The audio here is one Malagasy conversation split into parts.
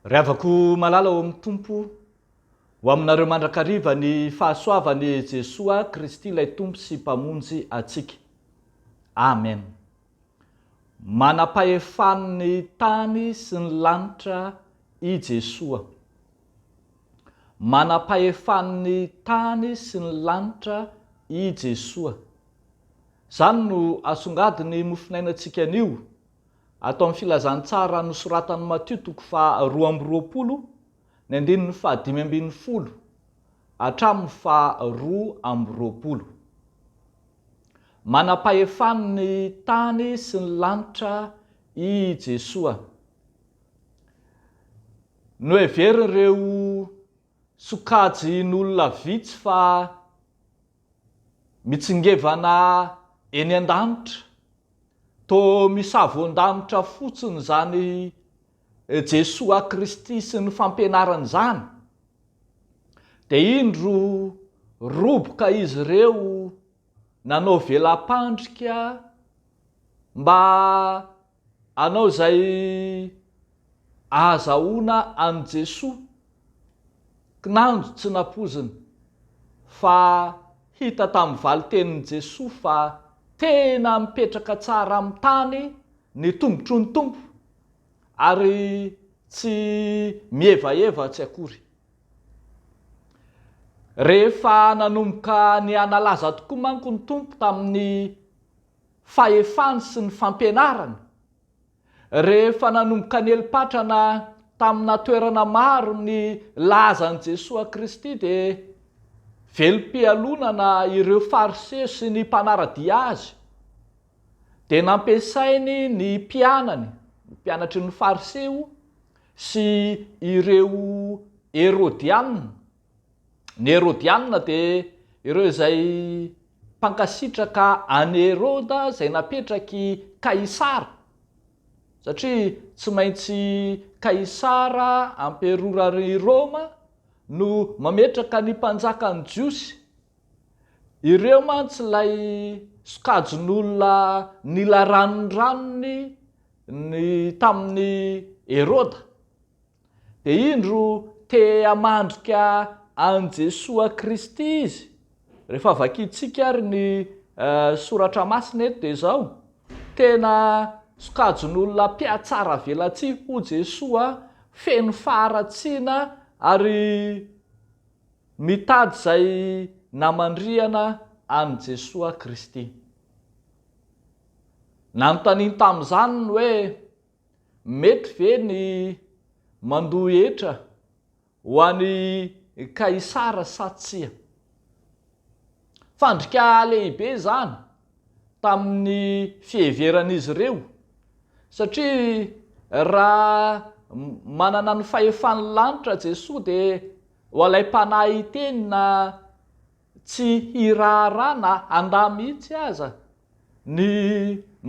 Ry havako malala ao amin'ny Tompo, ho aminareo mandrakariva ny fahasoavan'i Jesoa Kristy ilay Tompo sy Mpamonjy antsika. Amen. Manam-pahefan'ny tany sy ny lanitra i Jesoa. Manam-pahefan'ny tany sy ny lanitra i Jesoa. Izany no asongadin'ny mofonainantsika anio, ato amin'ny Filazantsara nosoratan'i Matio toko faha roa amby roapolo Ny andininy fahadimy ambin'ny folo hatramin'ny faharoa amby roapolo. Manam-pahefan'ny tany sy ny lanitra i Jesoa. Noheverin'ireo sokajin'olona vitsy fa mitsingevana eny an-danitra, toa misavoan-danitra fotsiny izany Jesoa Kristy sy ny fampianarany izany, dia indro roboka izy ireo nanao vela-pandrika mba hanao izay ahazahoana an'i Jesoa, kinanjo tsy nampoizina, fa hita tamin'ny valin-tenin'i Jesoa fa tena mipetraka tsara amin'ny tany ny tongotry ny Tompo ary tsy mihevahevatsy akory. Rehefa nanomboka nihanalaza tokoa manko ny Tompo tamin'ny fahefany sy ny fampianarany, rehefa nanomboka nieli-patrana tamina toerana maro ny lazan'i Jesoa Kristy dia velom-pialonana ireo Fariseo sy ny mpanara-dia Azy dia nampiasainy ny mpianany, ny mpianatry ny Fariseo sy ireo Herodiana. Ny Herodiana dia ireo izay mpankasitraka an'i Heroda izay napetrak'i Kaisara, satria tsy maintsy Kaisara, amperoran'i Roma, no mametraka ny mpanjakan'ny Jiosy. Ireo mantsy ilay sokajin'olona nila ranondranony ny tamin'i Heroda, dia indro te hamandrika an'i Jesoa Kristy izy. Rehefa vakintsika ary ny Soratra Masina eto dia izao, tena sokajin'olona mpihatsaravelatsihy hoy Jesoa, feno faharatsiana ary. Mitady izay namandrihana an'i Jesoa Kristy. Nanontaniany tamin'izany ny hoe, Mety ve ny mandoa hetra ho an'i Kaisara sa tsia? Fandrika lehibe izany tamin'ny fiheveran'izy ireo satria raha manana ny fahefan'ny lanitra Jesoa dia ho alaim-panahy hiteny na tsy hiraharaha na handà mihitsy aza ny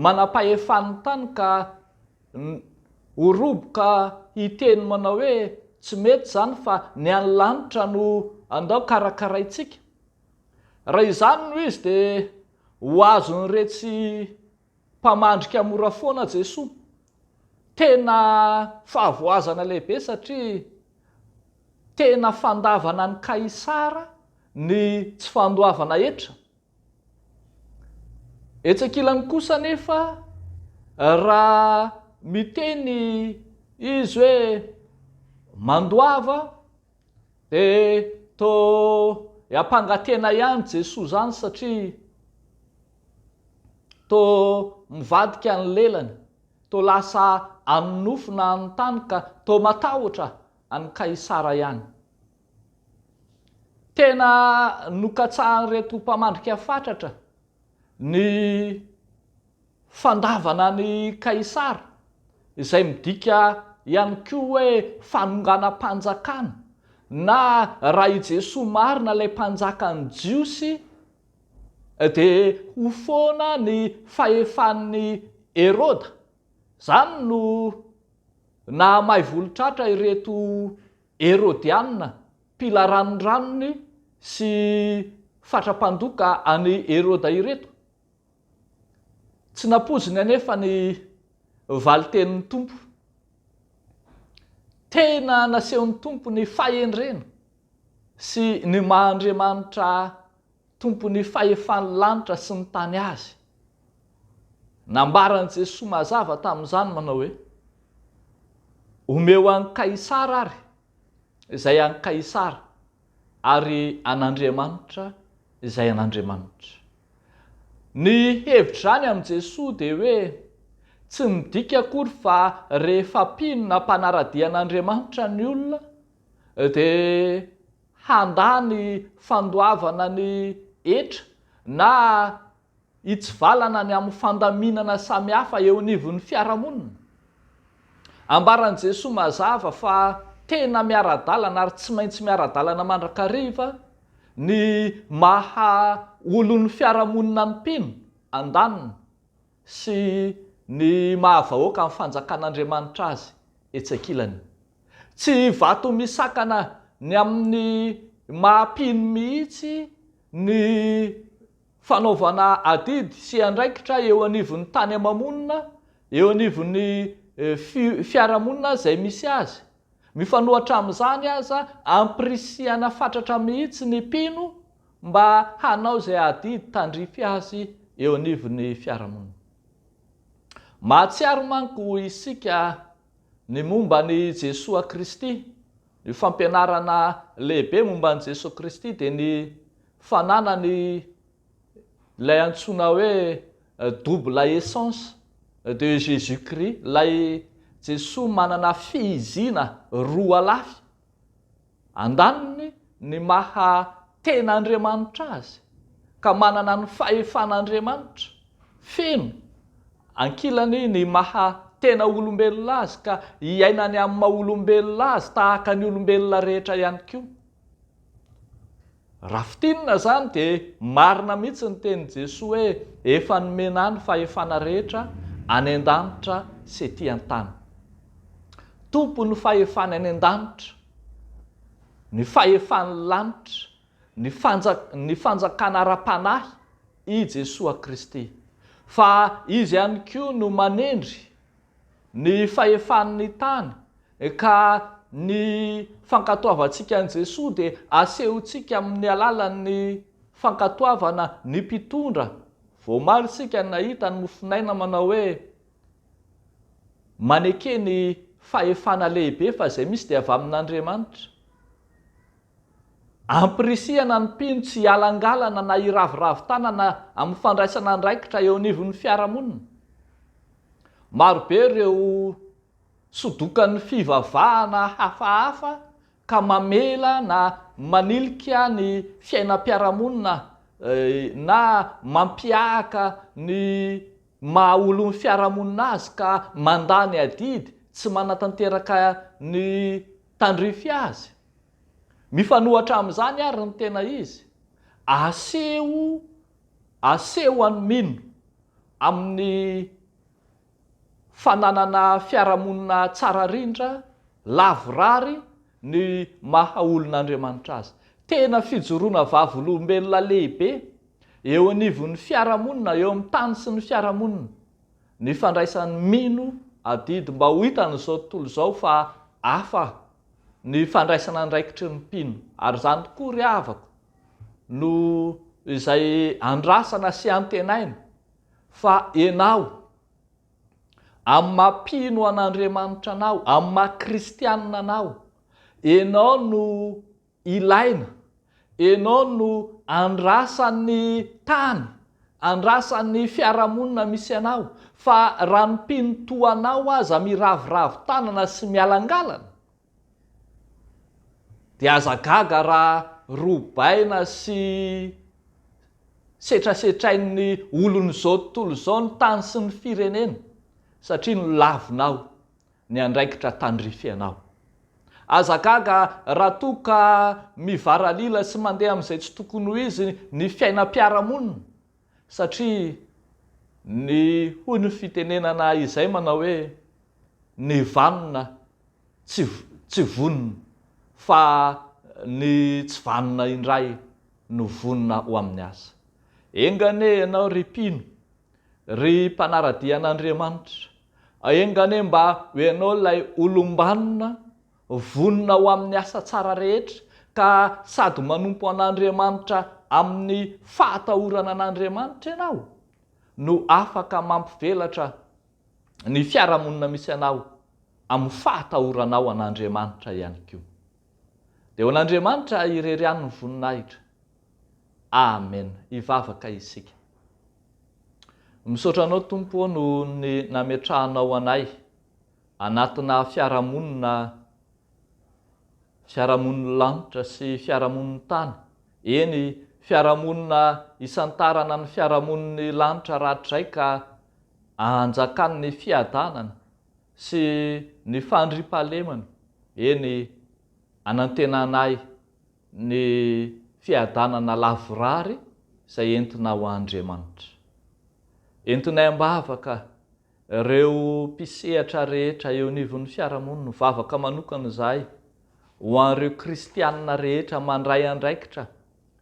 manam-pahefan'ny tany ka ho roboka hiteny manao hoe tsy mety izany fa ny any lanitra no andao karakaraintsika. Raha izany no izy dia ho azon'iretsy mpamandrika mora foana Jesoa. Tena fahavoazana lehibe satria tena fandavana an'i Kaisara ny tsy fandoavana hetra. Etsy ankilany kosa anefa raha miteny izy hoe mandoava E to e ampanga tena ihany jesoa zany satria to mivadika ny lelany to lasa any nofo na any tany ka to matahotra any kaisara ihany tena nokatsahan'ireto mpamandrika fatratra ny Fandavana an'i Kaisara, izay midika ihany koa hoe fanonganam-panjakana, na raha i Jesoa marina ilay Mpanjakan'ny Jiosy, dia ho foana ny fahefan'i Heroda. Izany no nahamay volotratra ireto Herodianina mpila ranondranony sy fatra-mpandoka an'i Heroda ireto. Tsy nampoiziny anefa ny valin-tenin'ny Tompo. Tena nasehon'ny Tompo ny fahendrena sy ny maha-Andriamanitra Tompon'ny fahefan'ny lanitra sy ny tany Azy. Nambaran'i Jesoa mazava tamin'izany manao hoe, Omeo an'i Kaisara àry izay an'i Kaisara ary an'Andriamanitra izay an'Andriamanitra. Ny hevitr'izany amin'i Jesoa dia hoe tsy midika akory fa rehefa mpino na mpanara-dia an'Andriamanitra ny olona dia handà ny fandoavana ny hetra na hitsivalana ny amin'ny fandaminana samihafa eo anivon'ny fiarahamonina. Ambaran'i Jesoa mazava fa tena miara-dalana ary tsy maintsy miara-dalana mandrakariva ny maha olon'ny fiarahamonina ny mpino, andaniny, sy ny maha vahoaka ny fanjakan'Andriamanitra azy, etsy ankilany. Tsy vato misakana ny amin'ny maha mpino mihitsy ny. Fanaovana adidy sy andraikitra eo anivon'ny tany ama-monina, eo anivon'ny fiarahamonina izay misy azy. Mifanohatra amin'izany aza, ampirisihana fatratra mihitsy ny mpino mba hanao izay adidy tandrify azy eo anivon'ny fiarahamonina. Mahatsiaro manko isika ny momba an'i Jesoa Kristy. Io fampianarana lehibe momba an'i Jesoa Kristy dia ny fananany ilay antsoina hoe double essence de Jesus Christ, ilay Jesoa manana fihiziana roa lafy, andaniny ny maha tena Andriamanitra Azy ka manana ny fahefan'Andriamanitra feno, ankilany ny maha tena olombelona Azy ka iainany amin'ny maha olombelona Azy tahaka ny olombelona rehetra ihany koa. Raha fintinina izany dia marina mihitsy ny tenin'i Jesoa hoe efa nomena ahy ny fahefana rehetra any an-danitra sy ety an-tany. Tompon'ny fahefana any an-danitra, ny fahefan'ny lanitra, ny ny fanjakana ara-panahy i Jesoa Kristy. Fa Izy ihany koa no manendry ny fahefan'ny tany, ka ny fankatoavantsika an'i Jesoa dia asehontsika amin'ny alalan'ny fankatoavana ny mpitondra, voamaly isika ny nahita ny mofonaina manao hoe maneke ny fahefana lehibe fa izay misy dia avy amin'Andriamanitra. Ampirisihana ny mpino tsy hialangalana na hiraviravy tanana amin'ny fandraisana andraikitra eo anivon'ny fiarahamonina. Marobe ireo sodokan'ny fivavahana hafahafa ka mamela na manilika ny fiainam-piarahamonina na mampihahaka ny maha olon'ny fiarahamonina azy ka mandà ny adidy tsy manatanteraka ny tandrify azy. Mifanohatra amin'izany àry ny tena izy, aseho aseho an'i Mino amin'ny fananana fiarahamonina tsara rindra, lavorary ny maha olon'Andriamanitra azy. Tena fijoroana vavolombelona lehibe eo anivon'ny fiarahamonina, eo amin'ny tany sy ny fiarahamonina, ny fandraisan'i Mino adidy mba ho hitan'izao tontolo izao fa hafa ny fandraisana andraikitry ny mpino, ary izany tokoa, ry havako, no izay andrasana sy antenaina, fa ianao, amin'ny maha mpino an'Andriamanitra anao, amin'ny maha kristianina anao, ianao no Ilaina, enao no andrasan ny tany, andrasan ny fiarahamonina misy anao, fa raha ny mpino toa anao aza miraviravy tanana sy mialangalana, dia aza gaga raha robaina sy setrasetrain ny olon izao tontolo izao ny tany sy ny firenena, satria nolavina ao. ny andraikitra tandrifena ao. Aza gaga raha toa ka mivaralila sy mandeha amin'izay tsy tokony ho izy ny fiainam-piarahamonina satria ny hoy ny fitenenana izay manao hoe ny vanona tsy tsy vonona fa ny tsy vanona indray no vonona ho amin'ny asa. Enga anie ianao ry mpino Ry mpanaradia an'Andriamanitra, enga anie mba ho ianao ilay olom-banona vonona ho amin'ny asa tsara rehetra ka sady manompo an'Andriamanitra amin'ny fahatahorana an'Andriamanitra ianao no afaka mampivelatra ny fiarahamonina misy anao amin'ny fahatahoranao an'Andriamanitra ihany koa. Dia ho an'Andriamanitra irery ihany ny voninahitra. Amen! Hivavaka isika. Misaotra Anao Tompo ô noho ny nametrahanao anay anatina fiarahamonina fiarahamonin'ny lanitra sy fiarahamonin'ny tany, eny fiarahamonina isantarana ny fiarahamonin'ny lanitra rahatrizay ka anjakan'ny fiadanana sy ny fandriampahalemana, eny anantenanay Ny fiadanana lavorary izay entina ho Andriamanitra. Entonay am-bavaka ireo mpisehatra rehetra eo anivon'ny fiarahamonina, ho vavaka manokana izahay ho an'ireo kristianina rehetra mandray andraikitra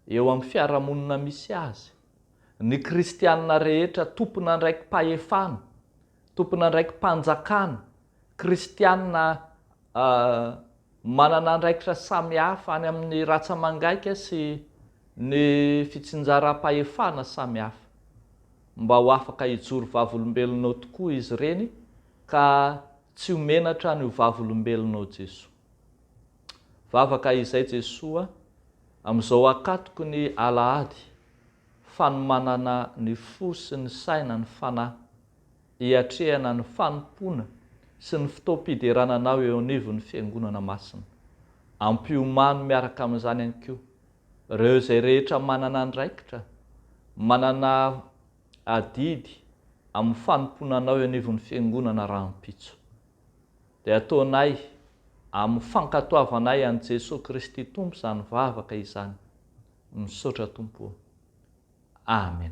eo amin'ny fiarahamonina misy azy, ny kristianina rehetra tompon'andraikim-pahefana, tompon'andraikim-panjakana, kristianina, a Manana andraikitra samihafa any amin'ny ratsa-mangaika sy ny fitsinjaram-pahefana samihafa. Mba ho afaka hijoro vavolombelona ao tokoa izy ireny ka tsy ho menatra ny ho vavolombelona ao Jesoa. Vavaka izay Jesoa amin'izao akatoky ny Alahady, fanomanana ny fo sy ny saina, ny fanahy. hiatrehana ny fanompoana sy ny fotoam-piderana anao eo anivon'ny Fiangonana Masina. Ampiomano miaraka amin'izany ihany koa ireo izay rehetra manana andraikitra, manana adidy amin'ny fanompoana anao eo anivon'ny Fiangonana rahampitso. Dia ataonay amin'ny fankatoavanay an'i Jesoa Kristy Tompo izany vavaka izany. Misaotra Tompo ô. Amen.